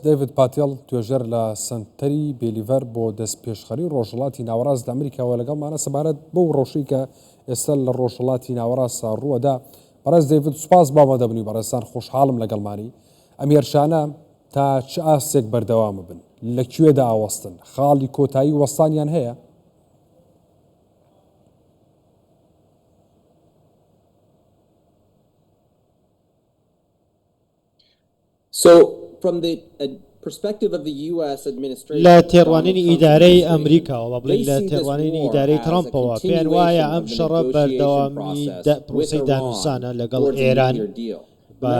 دەیڤد پاتێڵ، توێژەر لە سەنتەری بێلیڤەر بۆ دەستپێشخەریی ڕۆژهەڵاتی ناوەڕاست لە ئەمریکاوە لەگەڵمانە سەبارەت بەو ڕەوشەی کە ئێستا لە ڕۆژهەڵاتی ناوەڕاستدا ڕووەدا. بەڕێز دەیڤد سوپاس بۆ ئەوەندە بنی بەڕێزتان خۆشحاڵم لەگەڵمانی. ئەم هێرشانە تا چ ئاستێک بەردەوام بن؟ لە کوێدا ئاوەستن؟ خاڵی کۆتایی وەستانیان هەیە؟ لە تێڕوانینی ئیدارەی ئەمریکاوە، با بڵێین لە تێڕوانینی ئیدارەی ترەمپەوە، پێیان وایە ئەم شەڕە بەردەوامی پرۆسەی دانوسانە لەگەڵ ئێران بە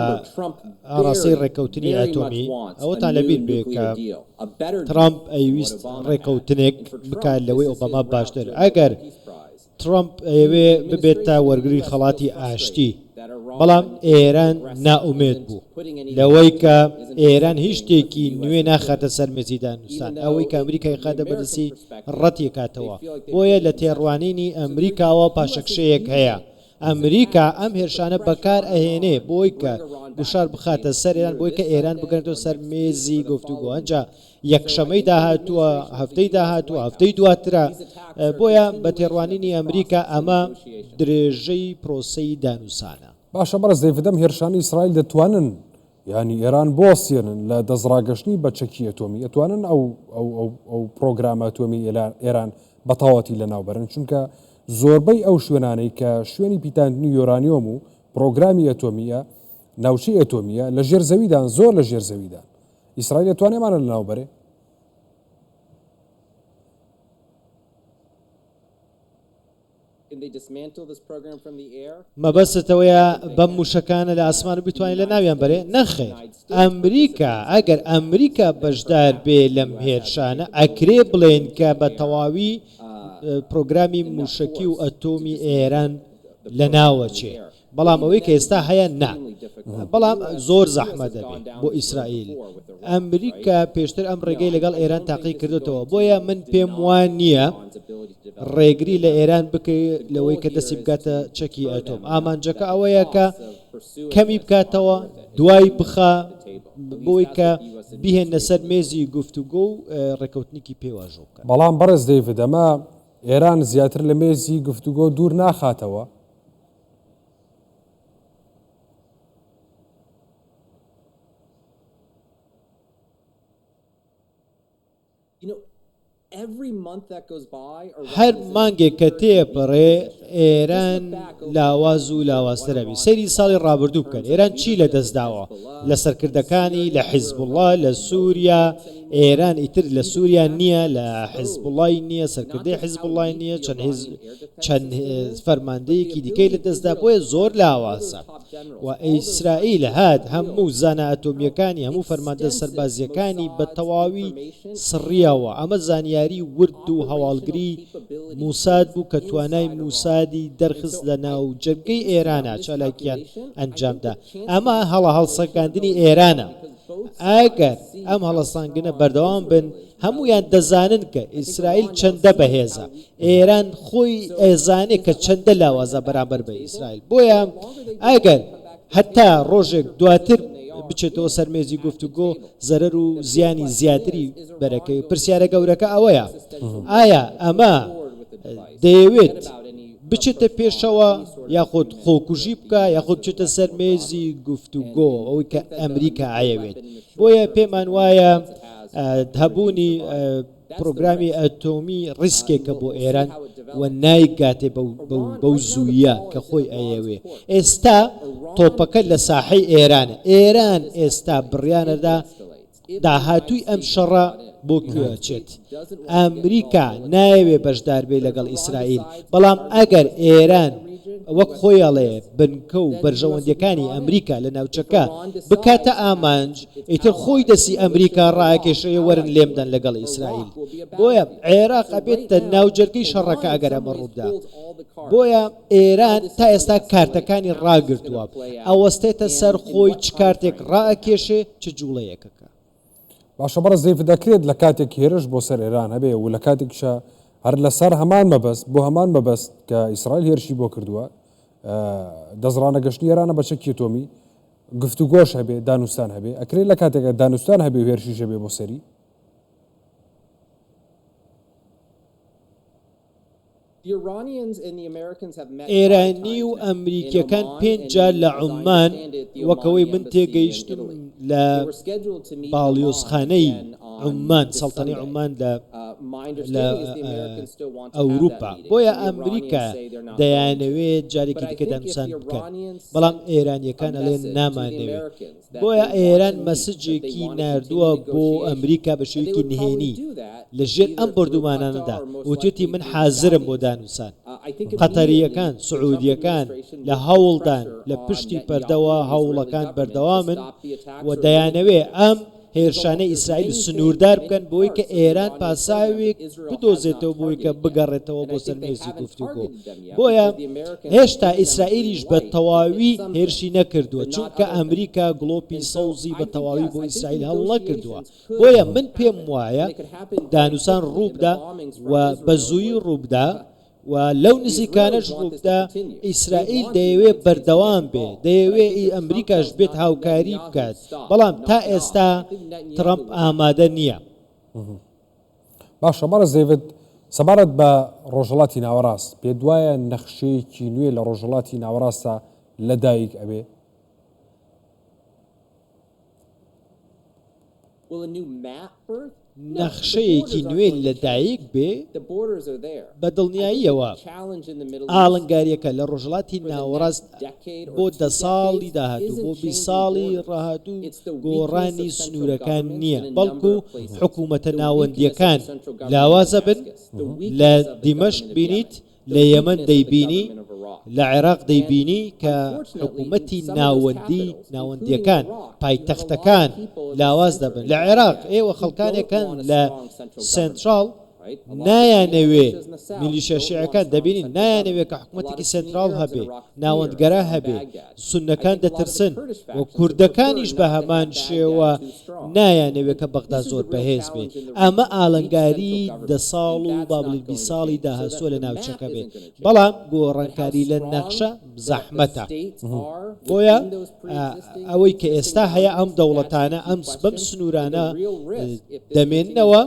ئاڕاستەی ڕێککەوتنی ئەتۆمی. ئەوەتان لەبیر بێت کە ترەمپ ئەیویست ڕێککەوتنێک بکات لەوەی ئۆباما باشتر. ئەگەر ترەمپ ئەیەوێ ببێتە وەرگری خەڵاتی ئاشتی، بەڵام ئێران نائومێد بوو لەوەی کە ئێران هیچ شتێکی نوێ ناخاتە سەر مێزی دانوستان، ئەوەی کە ئەمریکا یخا دە بەدەستی ڕەتیکاتەوە، بۆیە لە تێڕوانینی ئەمریکاوە پاشەکشەیەک هەیە، ئەمریکا ئەم هێرشانە بەکار ئەهێنێ بۆی کە گوشار بخاتە سەر ئێران بۆی کە ئێران بگەنێتەوە سەر مێزی گفتوگۆ ئەنجا یەکشەمەی داهاتووە هەفتەی داهاتووە هەفتەی دواترە بۆیە بە تێڕوانینی ئەمریکا ئەمە درێژەی پرۆسەی دانوسانە باشە بەڕز دەیفدەم هێرشانی ئیسرائیل دەتوانن ینی ئێران بۆسیێنن لە دەستڕاگەشتنی بە چەکی ئەتۆمی ئەتوانن ئەو ئەو پرۆگرامە ئەتۆمی ئێران بە تەواتی لە ناوبەرن چونکە زۆربەی ئەو شوێنانەی کە شوێنی پیتاندنی یۆرانیۆم و پرۆگرامی ئەتۆمیە ناوچەی ئەتۆمیە لە ژێر زەویدان زۆر لە ژێر زەویدان ئیسرائیل ئەتوانێ ئەمانە لەناو بەرێ. مەبەستت ئەوەیە بەم موشەکانە لە ئاسمان بتوانین لە ناویان بەرێ نەخێر ئەمریکا ئەگەر ئەمریکا بەشدار بێ لەم هێرشانە ئەکرێ بڵێن کە بە تەواوی پرۆگرامی موشەکی و ئەتۆمی ئێران لە ناوەچێ بەڵام ئەوەی کە ئێستا هەیە نا بەڵام زۆر زەحمە دەبێت بۆ ئیسرائیل ئەمریکا پێشتر ئەم ڕێگەی لەگەڵ ئێران تاقی کردێتەوە بۆیە من پێم وان نییە ڕێگری لە ئێران بکەی لەوەی کە دەستی بگاتە چەکی ئەتۆم ئامانجەکە ئەوەیە کە کەمی بکاتەوە دوای بخە بۆی کە بهێنە سەر مێزی گفتوگۆ و ڕێکەوتنیکی پێواژۆ بکە بەڵام بەڕێز دەیڤدەمە ئێران زیاتر لە مێزی گفتوگۆ دوور ناخاتەوە هەر مانگێک کە تێپەڕێ ئێران لاواز و لاوازتر ئەبی سەیری ساڵی ڕابردوو بکەن ئێران چی لە دەستداوە لە سەرکردەکانی لە حیزب وڵا لە سووریا ئێران ئیتر لە سووریا نییە لە حیزب وڵی نییە سەرکردی حیزب وڵی نییە چەند هێز چەند فەرماندەیەکی دیکەی لەدەستدا بۆیە زۆر لاوازە و ئیسرائیل هات هەموو زانە ئەتۆمیەکانی هەموو فەرماندە سەربازیەکانی بە تەواوی سڕیەوە ئەمە زانیاری ورد و هەواڵگری موساد بوو کە توانای موسادی دەرخست لە ناو جەرگەی ئێرانە چالاکیان ئەنجامدا ئەمە هەڵە هەڵسەکاندنی ئێرانە ئەگەر ئەم هەڵەسانگنە بەردەوام بن هەمویان دەزانن کە ئیسرائیل چەندە بەهێزە ئێران خۆی ئەزانێ کە چەندە لاوازە بەرامبەر بە ئیسرائیل، بۆیە ئەگەر هەتا ڕۆژێک دواتر بچێتەوە سەر مێزی گفتوگۆ زەرەر و زیانی زیاتری بەرەکەوی، پرسیارە گەورەکە ئەوەیە ئایا ئەمە دەیەوێت بچێتە پێشەوە یاخود خۆکوژی بکا یاخود بچێتە سەر مێزی گفتوگۆ ئەوەی کە ئەمریکا ئایەوێت، بۆیە پێمان وایە هەبوونی پرۆگرامی ئەتۆمی ڕیسکێکە بۆ ئێران و نایگاتێ بەو زووییە کە خۆی ئەیەوێ. ئێستا تۆپەکە لە ساحەی ئێرانە. ئێران ئێستا بڕیانەدا داهاتووی ئەم شەڕە بۆ کوێ ئەچێت. ئەمریکا نایەوێ بەشدار بێ لەگەڵ ئیسرائیل، بەڵام ئەگەر ئێران وەک خۆی ئەڵێ بنکە و بەرژەوەندییەکانی ئەمریکا لە ناوچەکە بکاتە ئامانج، ئیتر خۆی دەسی ئەمریکا ڕاکێشەیە وەرن لێم دەن لەگەڵ ئیسرائیل بۆیە عێراق ئەبێتە ناوجەرگەی شەڕەکە ئەگەر ئەمە ڕووبدا بۆیە ئێران تا ئێستا کارتەکانی ڕاگرتووە ئەوەستێتە سەر خۆی چ کارتێک ڕاکێشێ چ جوڵەیەکەکە باشە بەڕە زەیف دەکرێت لە کاتێک هێرش بۆ سەر ئێران هەبێ و لە کاتێکشە هەر لەسەر هەمان مەبەست بۆ هەمان مەبەست کە ئیسرائیل هێرشی بۆ کردووە دەزڕانە گەشتنی ئێرانە بە چەکی تۆمی گفتوگۆش هەبێ دانوستان هەبێ ئەکرێ لە کاتێکا دانوستان هەبێ و هێرشیش هەبێ بۆ سەری. ئێرانی و ئەمریکیەکان پێنج جار لە عوممان وەکەوەی من تێگەیشتم لە باڵیۆزخانەی عوممان سەڵتەنەی عوممان لە لە ئەوروپا بۆیە ئەمریکا دەیانەوێت جارێکی دیکە دانوسان بکەن بەڵام ئێرانیەکان ئەڵێن نامانەوێ بۆیە ئێران مەسجێکی نردووە بۆ ئەمریکا بە شوێکی نهێنی لە ژێر ئەم بردومانانەدا وتێتی من حازرم بۆ دانوسان قەتەریەکان سعودیەکان لە هەوڵدان لە پشتی پەردەوە هەوڵەکان بەردەوامن و دەیانەوێ ئەم هێرشانەی ئیسرائیل سنووردار بکەن بەوەی کە ئێران پاساوێک بدۆزێتەوە بۆی کە بگەڕێتەوە بۆ سەر مێزی گفتوگۆ بۆیە هێشتا ئیسرائیلیش بە تەواوی هێرشی نەکردووە چونکە ئەمریکا گڵۆپی سەوزی بە تەواوی بۆ ئیسرائیل هەڵنەکردووە بۆیە من پێم وایە دانوسان ڕووبدا و بە زووی ڕووبدا و لەو نزیکانەش ڕووبدا ئیسرائیل دەیەوێت بەردەوام بێ دەیەوێ ئی ئەمریکاش بێت هاوکاری بکات بەڵام تا ئێستا ترەمپ ئامادە نییە باشە بەڕە زەیوت سەبارەت بە ڕۆژهڵاتی ناوەڕاست پێ دوایە نەخشەیەکی نوێ لە ڕۆژهڵاتی ناوەڕاستە لە دایک ئەبێ نەخشەیەکی نوێ لەدایک بێ، بە دڵنیاییەوە ئاڵنگارییەکە لە ڕۆژهەڵاتی ناوەڕاست بۆ دە ساڵی داهاتوو، بۆ بیست ساڵی ڕاهاتوو گۆڕانی سنوورەکان نییە، بەڵکو حکوومەتە ناوەندییەکان لاوازە بن، لە دیمەشق بینیت، لە یەمەن دەیبینی لە عێراق دەیبینی کە حکومەتی ناوەندی ناوەندیەکان پایتەختەکان لاواز دەبن لە عێراق ئێوە خەڵکانێکان لە سنترال نایانەوێ میلیشە شعەکان دەبینین نایانەوێت کە حکوومەتێکی سنترال هەبێ ناوەندگەرا هەبێ سوننەکان دەترسن و کوردەکانیش بە هەمان شێوە نایانەوێت کە بەغدا زۆر بەهێز بێت ئەمە ئالنگاری دە ساڵ و بابلی بی ساڵی داهاتووە لە ناوچەکە بێت بەڵام گۆڕانکاری لە نەخشە زەحمەتە بۆیە ئەوەی کە ئێستا هەیە ئەم دەوڵەتانە ئەم بەم سنوورانە دەمێنەوە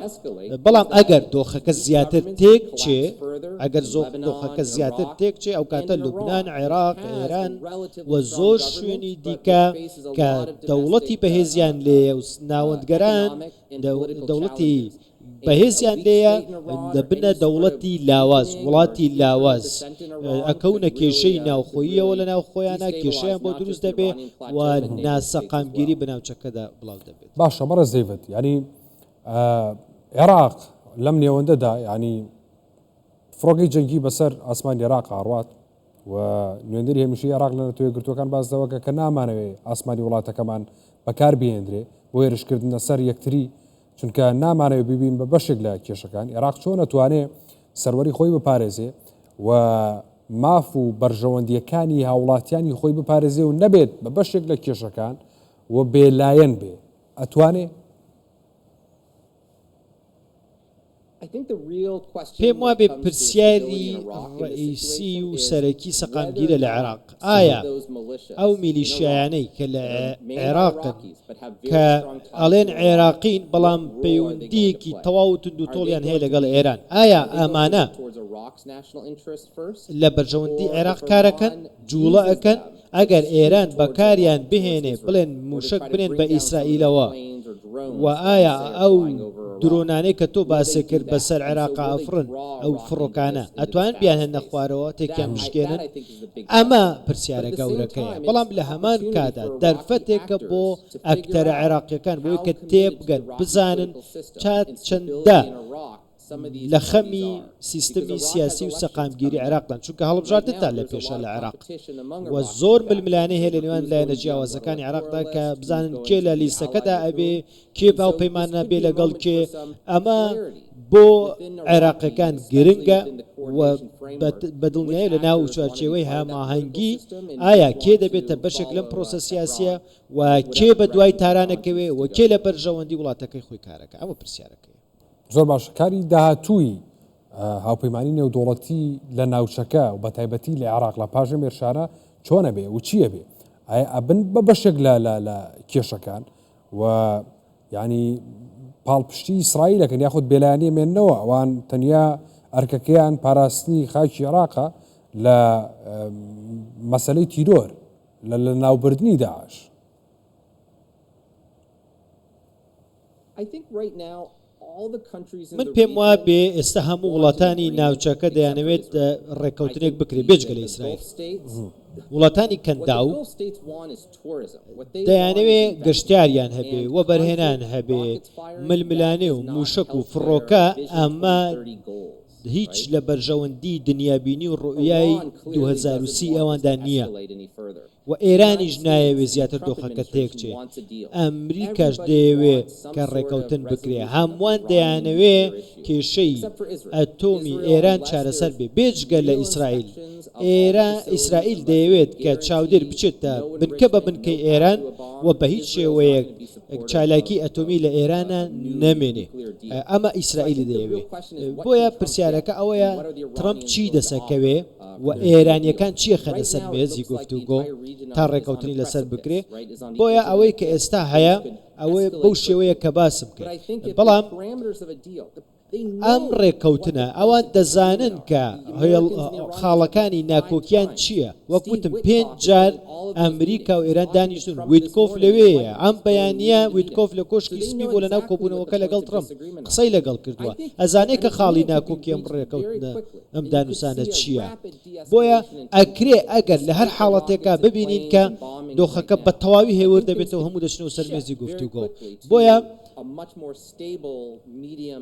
بەڵام ئەگەر دۆخەکە زیاتر تێک چێ ئەگەر زۆخ دۆخەکە زیاتر تێکچێ ئەوکاتە لوبنان، عێراق، ئێران و زۆر شوێنی دیکە کە دەوڵەتی بەهێزیان لێیە و ناوەندگەران دەوڵەتی بەهێزیان لێیە دەبنە دەوڵەتی لاواز وڵاتی لاواز ئەکەونە کێشەی ناوخۆییەوە لە ناوخۆیانە کێشیان بۆ دروست دەبێ و ناسەقامگیری بناوچەکەدا بڵاو دەبێت باشە بەڕە زەیبەت ینی عێراق لەم نێوەندەدا ینی فڕۆکەی جەنگی بەسەر ئاسمانی عێراق ئاڕوات و نوێندری هەمیشەی عێراق لە نەتەوە گرتوەکان باس لەوە کە کە نامانەوێ ئاسمانی وڵاتەکەمان بەکار بهێندرێ بۆ هێرشکردنە سەر یەکتری چونکە نامانەوێ ببین بە بەشێک لە کێشەکان عێراق چۆن ئەتوانێ سەروەری خۆی بپارێزێ و ماف و بەرژەوەندیەکانی هاوڵاتیانی خۆی بپارێزێ و نەبێت بە بەشێک لە کێشەکان و بێلایەن بێ ئەتوانێ پێم وابێ پرسیاری ڕەئیسی و سەرەکی سەقامگیرە لە عێراق ئایا ئەو میلیشیایانەی کە لە عێراقن کە ئەڵێن عێراقین بەڵام پەیوەندیەکی تەواو و توندوتۆڵیان هەیە لەگەڵ ئێران ئایا ئامانە لە بەرژەوەندی عێراق کارەکەن جوڵە ئەکەن؟ ئەگەر ئێران بەکاریان بهێنێ بڵێن موشەک بنێن بە ئیسرائیلەوە و ئایا ئەو درۆنانەی کە تۆ باسێ کرد بەسەر عێراقا ئەفڕن ئەو فڕۆکانە ئەتوان بیان هێنە خوارەوە تێکیان بشکێنن ئەمە پرسیارە گەورەکەیە بەڵام لە هەمان کادا دەرفەتێکە بۆ ئەکتەرە عێراقیەکان بۆی کە تێبگەن بزانن چات چەندە لە خەمی سیستمی سیاسی و سەقامگیری عێراقدان، چونکە هەڵبژاردنتان لە پێشە لە عێراق و زۆر ململانێ هەیە لە نێوان لایەنە جیاوازەکانی عێراقدا کە بزانن کێ لە لیستەکەدا ئەبێ، کێ هاوپەیمان ئەبێ لەگەڵ کێ، ئەمە بۆ عێراقییەکان گرنگە و بە دڵنیایی لە ناو چوارچێوەی هەماهەنگی ئایا کێ دەبێتە بەشێک لەم پرۆسە سیاسییە و کێ بە دوای تاران ئەکەوێ و کێ لە بەرژەوەندی وڵاتەکەی خۆی کارەکا، ئەمە پرسیارەکەیە. زۆر باشە کاری داهاتووی هاوپەیمانی نێودوڵەتی لە ناوچەکە و بە تایبەتی لە عێراق لە پاژە مێرشارە چۆنە بێ و چییە بێ ئایا ئەبن بە بەشێک لە لە کێشەکان و ینی پاڵپشتی ئیسرائیلەکەن یاخود بێلایانی مێنەوە ئەوان تەنیا ئەرکەکەیان پاراستنی خاکی عێراقە لە مەسلەی تیرۆر لە لە ناوبردنی داعش من پێم وابێ ئێستا هەموو وڵاتانی ناوچەکە دەیانەوێت ڕێککەوتنێک بکرێت بێجگە لە ئیسرائیل وڵاتانی کەندا و دەیانەوێ گەشتاریان هەبێ و بەرهێنان هەبێ ململانێ و موشک و فڕۆکە ئەمە هیچ لە بەرژەوەندی دنیابینی و ڕوئای 2030 ئەواندا نییە. وە ئێرانیش نایەوێ زیاتر دۆخەکە تێکچێ ئەمریکاش دەیەوێ کە ڕێکەوتن بکرێ هەمووان دەیانەوێ کێشەی ئەتۆمی ئێران چارەسەر بێ بێجگە لە ئیسرائیل ئێرا ئیسرائیل دەیەوێت کە چاودێر بچێتە بنکە بە بنکەی ئێران وە بە هیچ شێوەیەک چالاکی ئەتۆمی لە ئێرانە نەمێنێ ئەمە ئیسرائیلی دەیەوێ بۆیە پرسیارەکە ئەوەیە ترەمپ چی دەسەکەوێ؟ و ئێرانییەکان چی ئەخەنە سەر مێزی گفتوگۆ تا ڕێکەوتنی لەسەر بکرێ، بۆیە ئەوەی کە ئێستا هەیە ئەوەیە بەو شێوەیە کە باسم کرد، بەڵام ئەم ڕێکەوتنە ئەوان دەزانن کە خاڵەکانی ناکۆکیان چییە، وەک وتم پێنج جار ئەمریکا و ئێران دانیشتون ویتکۆف لەوێیە ئەم بەیانە ویتکۆف لە کۆشکی سپی بۆ لەناو کۆبوونەوەکە لەگەڵ ترەمپ قسەی لەگەڵ کردووە ئەزانێت کە خاڵی ناکۆکی ئەم ڕێکەوتنە. ئەم دانوسانە چییە؟ بۆیە ئەکرێ ئەگەر لە هەر حاڵەتێکا ببینین کە دۆخەکە بە تەواوی هێور دەبێتەوە هەموو دەچنەوە سەر مێزی گفتوگۆ بۆیە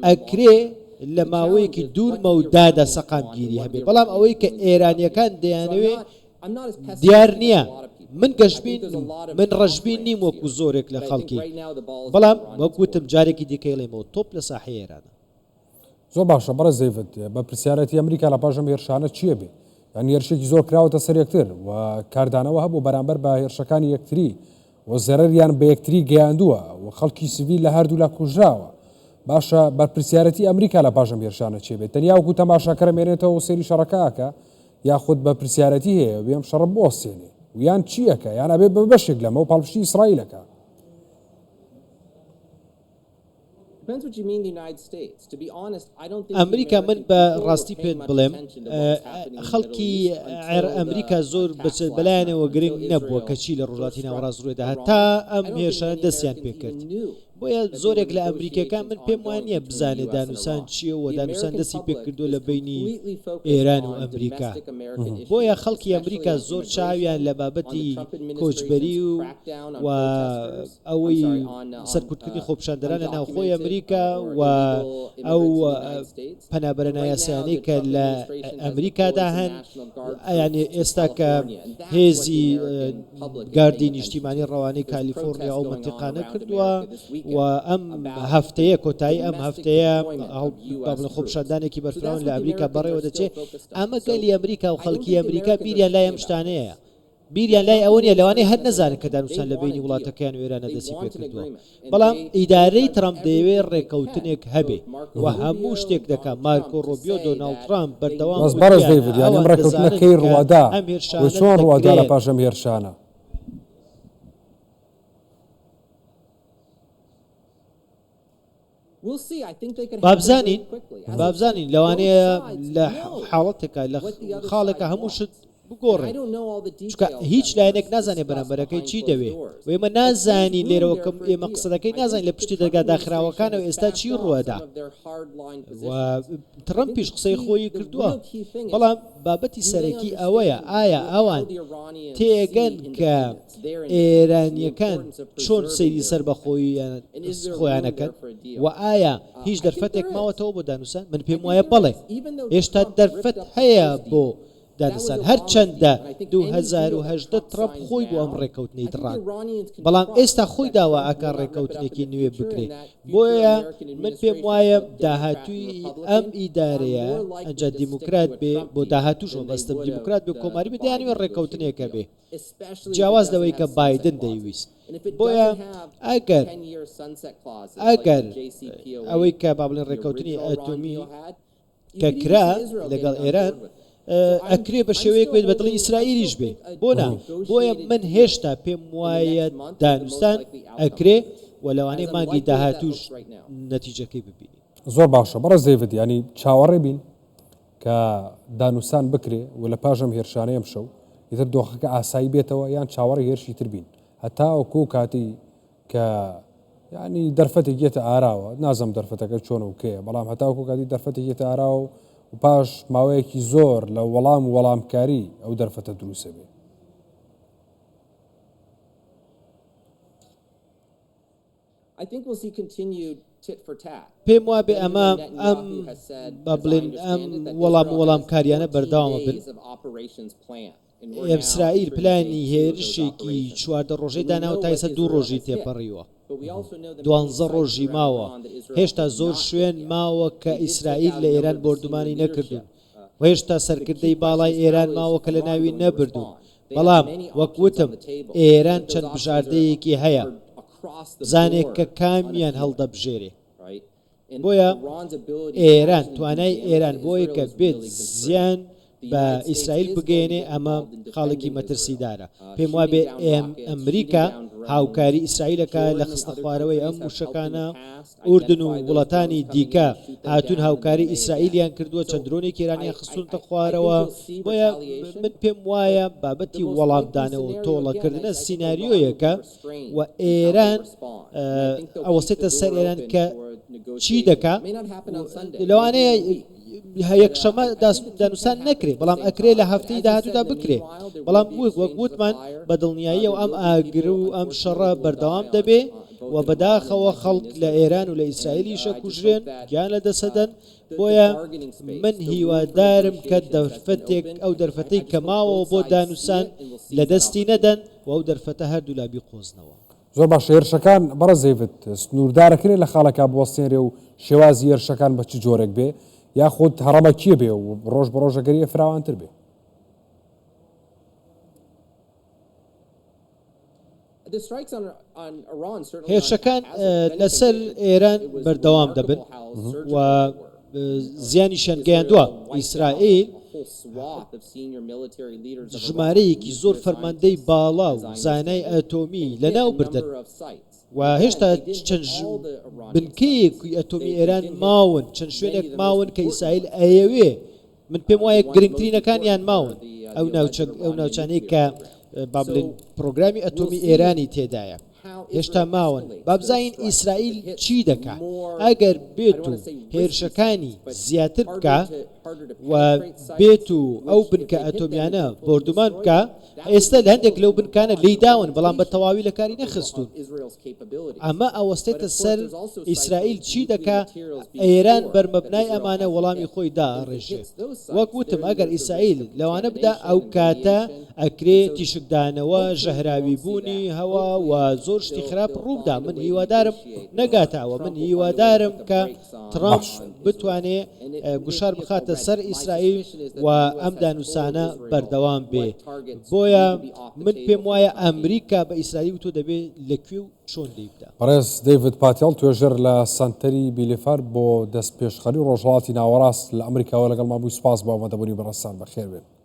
ئەکرێ لە ماوەیەکی دوور مەودادا سەقامگیری هەبێ بەڵام ئەوەی کە ئێرانیەکان دەیانەوێ دیار نییە من گەشتبین من ڕژبین نیم وەکو زۆرێک لە خەڵکی بەڵام وەکوتم جارێکی دیکەیڵێمەوە تۆپ لە ساحێرانە زۆر باشە بەڕێز زەیڤت بە پرسیارەتی ئەمریکا لە پاش ئەم هێرشانە چییە بێ یان هێرشێکی زۆر کراوەتە سەر یەکتر و کاردانەوە هەبوو بەرامبەر بە هێرشەکانی یەکتری و زەرەریان بە یەکتری گەیاندووە و خەڵکی سڤیل لە هەردوولا کوژراوە باشە بەرپرسیارەتی ئەمریکا لە پاشەم هێرشانە چێ بێت تەنیاوکو تەماشاکەرە مێنێتەوە و سێری شەڕەکەکە یاخود بە پرسیارەتی هەیە وێم شەڕ بۆستێنێ ویان چییەکە یان ئەبێ بە بەشێک لەمە و پاڵپشتی ئیسرائیلەکە ئەمریکا من بە ڕاستی پێت بڵێم خەڵکی عێر ئەمریکا زۆر بچێت بەلایەنەوە گرنگ نەبووە کەچی لە ڕۆژاتی ناوەڕاست ڕێدا هەتا ئەم هێرشان دەستیان پێکرد بۆیە زۆرێک لە ئەمریکەکان من پێم وانە بزانێ دانوسان چیە و دانوسان دەستی پێکردو لە بینی ئێران و ئەمریکا بۆیە خەڵکی ئەمریکا زۆر چاویان لە بابەتی کۆچبەری و ئەوەی سەرکوتکردنی خۆپیشاندەران لە ناوخۆی ئەمریکا و ئەو پەنابەرە نایاسایانەی کە لە ئەمریکادا هەن ئەیانێ ئێستا کە هێزی گاردی نیشتیمانی ڕەوانەی کالیفۆرنیا ئەو منتیقانە کردووە و ئەم هەفتەیە کۆتایی ئەم هەفتەیە بابلە خۆپشاندانێکی بەرفراون لە ئەمریکا بەڕێوە دەچێت ئەمە گەلی ئەمریکا و خەڵکی ئەمریکا بیریان لای ئەم شتانەیە بیریان لای ئەوە نیە لەوانەیە هەر نەزانن کە دانوستان لە بەینی وڵاتەکەیان و ئێرانە دەستی پێ کردووە بەڵام ئیدارەی ترەمپ دەیەوێ ڕێکەوتنێک هەبێ و هەموو شتێک دەکا مارکۆ ڕۆبیۆ دۆناڵد ترەمپ بەردەوام ڕاست بەڕێز وتویانە دەیڤد یانی ئەم ئەوان ڕێکەوتنە دەزانن کەی کە ڕووادا ئەم و هێرشانە چۆن ڕووادا لە دەکرێ پاش ئەم هێرشانە؟ بابزانین لەوانەیە لە حاڵەتێکە لە خاڵێکە هەموو شت بگۆڕێ هیچ لایەنێک نازانێت بەرامبەرەکەی چی دەوێ وێمە نازانی لێرەوە کەم ئێمە قسەکەی نازان لە پشتی دەرگا داخراوەکانەوە ئێستا چی ڕوەدا تڕم پیش قسەی خۆی کردووە بەڵام بابەتی سەرەکی ئەوەیە ئایا ئەوان تێگەن کە ئێرانییەکان چۆن سەیری سەربەخۆییان خۆیان ئەکەن و ئایا هیچ دەرفەتێک ماوەتەوە بۆ دانوسان من پێم وایە بەڵێ هێشتا دەرفەت هەیە بۆ دانسان هەرچەندە 2010 ترەمپ خۆی بۆ ئەم ڕێکەوتنەی دڕان بەڵام ئێستا خۆی داوا ئەکا ڕێکەوتنێکی نوێ بکرێت بۆیە من پێم وایە داهاتوی ئەم ئیدارەیە ئەجا دیموکرات بێ بۆ داهاتوش مەبەستم دیموکرات بێ کۆماری بێ دەیانەوێ ڕێکەوتنێکە بێ جیاواز لەوەی کە بایدن دەیویست. بۆیە ئەگەر ئەگەر ئەوەی کە با بڵێن ڕێکەوتنی ئەتۆمی کە کرا لەگەڵ ئێران ئەکرێ بە شێوەیەک بێت بە دڵی ئیسرائیلیش بێ بۆ نا بۆیە من هێشتا پێم وایە دانوستان ئەکرێ و لەوانەیە مانگی داهاتووش نەتیجەکەی ببینین. زۆر باشە بەڕێز دەیڤد یانی چاوەڕێ بین کە دانوستان بکرێ و لە پاش ئەم هێرشانەی ئەمشەو ئیتر دۆخەکە ئاسایی بێتەوە یان چاوەڕێی هێرشی تر بین هەتاوەکو ئەو کاتەی کە یانی دەرفەتێک یەتە ئاراوە نازم دەرفەتەکە چۆن و کێ بەڵام هەتاوەکو کاتی دەرفەتێک یەتە ئاراوە و و پاش ماوەیەکی زۆر لە وەڵام و وەڵامکاری ئەو دەرفەتە دروسە بێ پێم وابێ ئەمە ئەم با بڵێن ئەم وەڵام و وەڵامکارییانە بەردەوامە بن. ئێسرائیل پلانی هێرشێکی چواردە ڕۆژەی داناوە تا ئێستا دوو ڕۆژی تێپەڕیوە. دوانزە ڕۆژی ماوە. هێشتا زۆر شوێن ماوە کە ئیسرائیل لە ئێران بۆردومانی نەکردوون و هێشتا سەرکردەی باڵای ئێران ماوە کە لەناوی نەبردوون. بەڵام وەک وتم ئێران چەند بژاردەیەکی هەیە بزانێ کە کامیان هەڵدەبژێرێ بۆیە ئێران توانای ئێران بۆیە کە بێت زیان بە ئیسرائیل بگەێنێ ئەمە خاڵێکی مەترسیدارە پێم وابێ ئێم ئەمریکا هاوکاری ئیسرائیلەکە لە خستە خوارەوەی ئەم وشەکانە ئوردن و وڵاتانی دیکە هاتوون هاوکاری ئیسرائیلیان کردووە چەند درۆنێکی ئێرانیان خستوونەتە خوارەوە بۆیە من پێم وایە بابەتی وەڵامدانەوە و تۆڵەکردنە سیناریۆیەکە و ئێران ئەوەسێتە سەر ئێران کە چی دەکا لەوانەیە یەکشەمە دانوستان نەکرێت بەڵام ئەکرێ لە هەفتەی داهاتوودا بکرێت بەڵام بووک وەک وتمان بە دڵنیاییە و ئەم ئاگر و ئەم شەڕە بەردەوام دەبێ و بەداخەوە خەڵک لە ئێران و لە ئیسرائیلیشە کوژرێن گیان لە دەسەدەن بۆیە من هیوادارم کە دەرفەتێک ئەو دەرفەتەی کە ماوەوە بۆ دانوسان لە دەستی نەدەن و ئەو دەرفەتە هەردوو لابی قۆزنەوە زۆر باشە هێرشەکان بەڕە زەیڤت سنووردارەکرێ لە خاڵەکە بوەستێنرێ و شێوازی هێرشەکان بە چ جۆرێک بێ یاخود هەڕەمە کیە بێ و ڕۆژ بە ڕۆژەگەری فراوانتر بێ هێرشەکان لەسەر ئێران بەردەوام دەبن و زیانیشیان گەیاندوە ئیسرائیل ژمارەیەکی زۆر فەرماندەی باڵا و زانای ئەتۆمی لەناو بردن و هێشتا چەند بنکەیەکی ئەتۆمی ئێران ماون چەند شوێنێک ماون کە ئیسرائیل ئەیەوێ من پێم وایە گرنگترینەکانیان ماون ئەو ئەو ناوچانەی کە با بڵین پرۆگرامی ئەتۆمی ئێرانی تێدایە هێشتا ماون بابزین ئیسرائیل چی دەکا ئەگەر بێت و هێرشەکانی زیاتر بکە و بێت و ئەو بنکە ئەتۆمیانە بردومان بکە ئێستە لە هەندێک لەو بنکانە لێیداون بەڵام بە تەواوی لە کاری نەخستوون ئەمە ئەوەستێتە سەر ئیسرائیل چی دەکا ئێران بەرمەبنای ئەمانە وەڵامی خۆی دا ڕێژێ وەک وتم ئەگەر ئیسرائیل لەوانە بدا ئەو کاتە ئەکرێ تیشکدانەوە ژەهراوی بوونی هەوا و زۆر شتی خراپ ڕوودا من هیوادارم نەگاتەوە من هیوادارم کە ترەمپ بتوانێ گوشار بخاتە سەر ئیسرائیل و ئەم دانوسانە بەردەوام بێ بۆیە من پێم وایە ئەمریکا بە ئیسرائیل وتۆ دەبێ لە کوێ و چۆن دەیبدا بەڕێز دەیڤد پاتێڵ توێژەر لە سەنتەری بیلیفار بۆ دەستپێشخەری ڕۆژهەڵاتی ناوەڕاست لە ئەمریکاوە لەگەڵمان بووی سوپاس بۆ ئامادەبوونی بەڕێزتان بەخێربێن